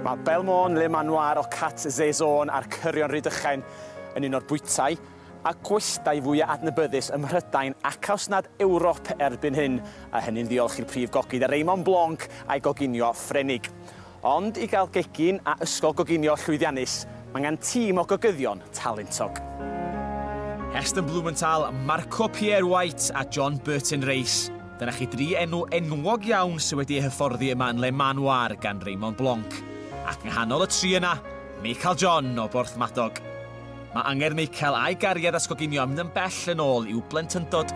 Mae Belmôn, Le Manoir, Occat, Saison a'r Cyrion Rhydychen yn un o'r bwytai a gwestai fwya' adnabyddus ym Mhrydain ac os nad Ewrop erbyn hyn, a hynny'n ddiolch i'r prif gogydd Raymond Blanc a'i goginio Ffrenig. Ond i gael gegin a ysgol goginio llwyddiannus, mae angen tîm o gogyddion talentog. Heston Blumenthal, Marco Pierre White a John Burton Race. Dyna chi dri enw enwog iawn sydd wedi eu hyfforddi yma yn Le Manoir gan Raymond Blanc. Ac yng nghanol y tri yna, Michael John o Borthmadog. Mae angerdd Michael a'i gariad at goginio yn mynd yn bell yn ôl i'w blentyndod.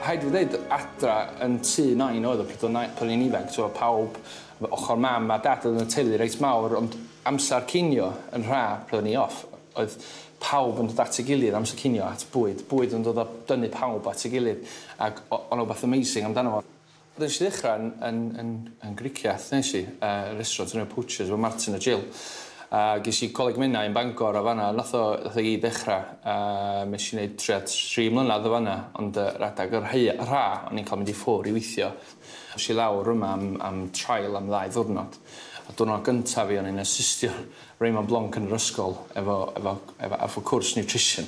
Rhaid i fi ddeud, adra yn tŷ Nain oedd o pryd o'n na- pan o'n i'n ifanc, t'mo' pawb, m- ochr mam a dad oedd yn y teulu reit mawr, ond amser cinio yn rha pryd o'n i off, oedd pawb yn dod at ei gilydd amser cinio at bwyd, bwyd yn dod a dynnu pawb at ei gilydd, ac o- o' 'na wbath amazing amdano fo. Nes i ddechra yn yn yn yn griciath nes i, yy restraunt yn y Poachers efo Martin a Jill. A ges i Coleg Menai yn Bangor a fan'na nath o nath o gyd ddechra. A mes i neud tua tri mlynadd o fan'na ond yy radag y rhei y rha o'n i'n ca'l mynd i ffwr' i weithio. Es i lawr yma am am trial am ddau ddiwrnod. A diwrnod gynta fi o'n i'n asystio Raymond Blanc yn yr ysgol efo efo efo efo cwrs nutrition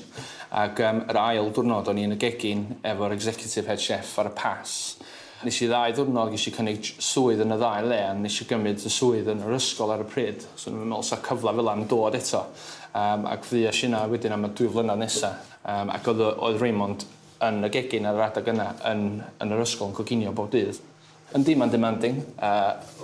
ag yym yr ail dwrnod o'n i yn y gegin efo'r executive head chef ar y Pass. Nes i ddau ddiwrnod gesh i cynnig j- swydd yn y ddau le a nes i gymyd y swydd yn yr ysgol ar y pryd so o'n i'm yn me'wl sa cyfla fela yn dod eto yym ac fuesh inna wedyn am y dwy flynadd nesa yym ac o'dd yy oedd Raymond yn y gegin ar yr adag yna yn yn yr ysgol yn coginio bob dydd. Yndi, mae'n demanding, a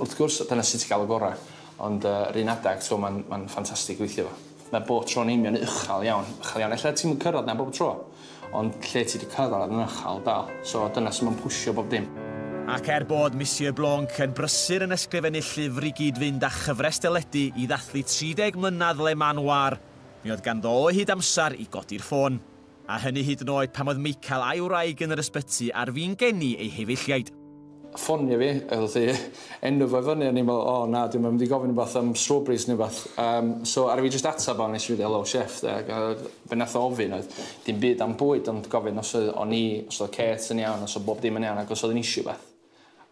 wrth gwrs, dyna sut ti'n cael y gorau. Ond yr un adeg, ti'n gwybod, mae'n, mae'n ffantastig gweithio fo. Mae bob tro'n union uchel iawn, uchel iawn. Ella ti'm yn cyrraedd 'na bob tro, ond lle ti 'di cyrraedd yn uchel dal. So, dyna sut mae'n pwsio bob dim. Ac er bod Monsieur Blanc yn brysur yn ysgrifennu llyfr i gyd-fynd â chyfres deledu i ddathlu 30 mlynedd Le Manoir, mi oedd ganddo o hyd amser i godi'r ffôn. a hynny hyd yn oed pan oedd Michael a'i wraig yn yr ysbyty ar fin geni eu hefeilliaid. Ffonio fi, oedd hi, enw fo i fyny, o'n i'n meddwl, o na, dwi ddim yn mynd i gofyn rhywbeth am strawberries neu rhywbeth. Um, so, ar fi jyst ateb o, nes i fynd, hello chef, de, ac fe nath o ofyn oedd, dim byd am bwyd, ond gofyn os oedd o'n i, os oedd Kate yn iawn, os oedd bob dim yn iawn, ac os oedd yn eisiau beth.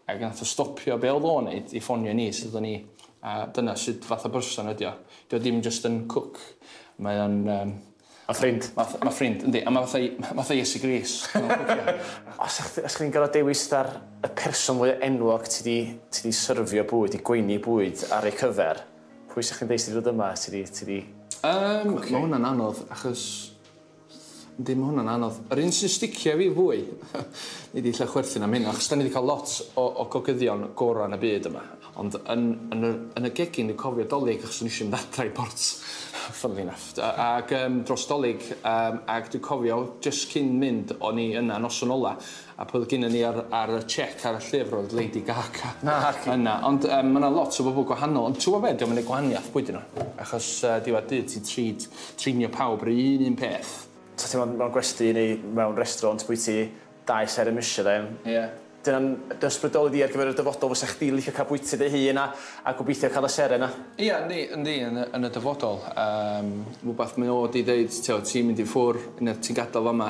Ac nath o stopio be oedd o'n neud i ffonio i ni sut oedden ni a dyna sut fath o berson ydi o. Dio dim jyst yn cook mae o'n yym... Ma' ffrind. Ma' ma' ffrind yndi a ma' fatha ma' fatha Iesu Grist mewn cwpla. Os o'ch os chi'n gor'o' dewis fatha'r y person mwya enwog ti 'di ti 'di syrfio bwyd, 'di gweini bwyd ar eu cyfer, pwy sa chdi'n deud sy 'di dod yma, sy 'di ti 'di... Yym ma' hwnna'n anodd achos Yndi ma' hwnna'n anodd. Yr un sy'n sticio i fi fwy nei di 'lla chwerthin am hyn achos 'dan ni 'di ca'l lot o o gogyddion gora yn y byd yma ond yn yn y yn y gegin dwi'n cofio 'Dolig achos o'n i isio mynd adra i Bort funnily enough a- ag yym dros 'Dolig yym ag dwi'n cofio jyst cyn mynd o'n i yna noson ola A pwy oedd gynnon ni ar ar y chec ar y llyfr oedd Lady Gaga. Naci. Yna ond yym ma' 'na lot o bobol gwahanol ond t'wbo' be' 'di o'm yn neu' gwahaniath pwy 'dyn n'w achos yy diwedd dydd ti'n treat trînio pawb ry' un un peth. Sa ti'n me'wl mewn gwesty neu mewn restraunt bwyt ti dau ser y Michelin. Ie. Dyna'n dy ysbrydoli di ar gyfer y dyfodol fysa chdi'n licio ca'l bwyty dy hun a a gobeithio ca'l y seren 'na? Ia yndi yndi yn y yn y dyfodol yym rwbath mae o 'di deud t'o' ti'n mynd i ffwr' ne' ti'n gadal fama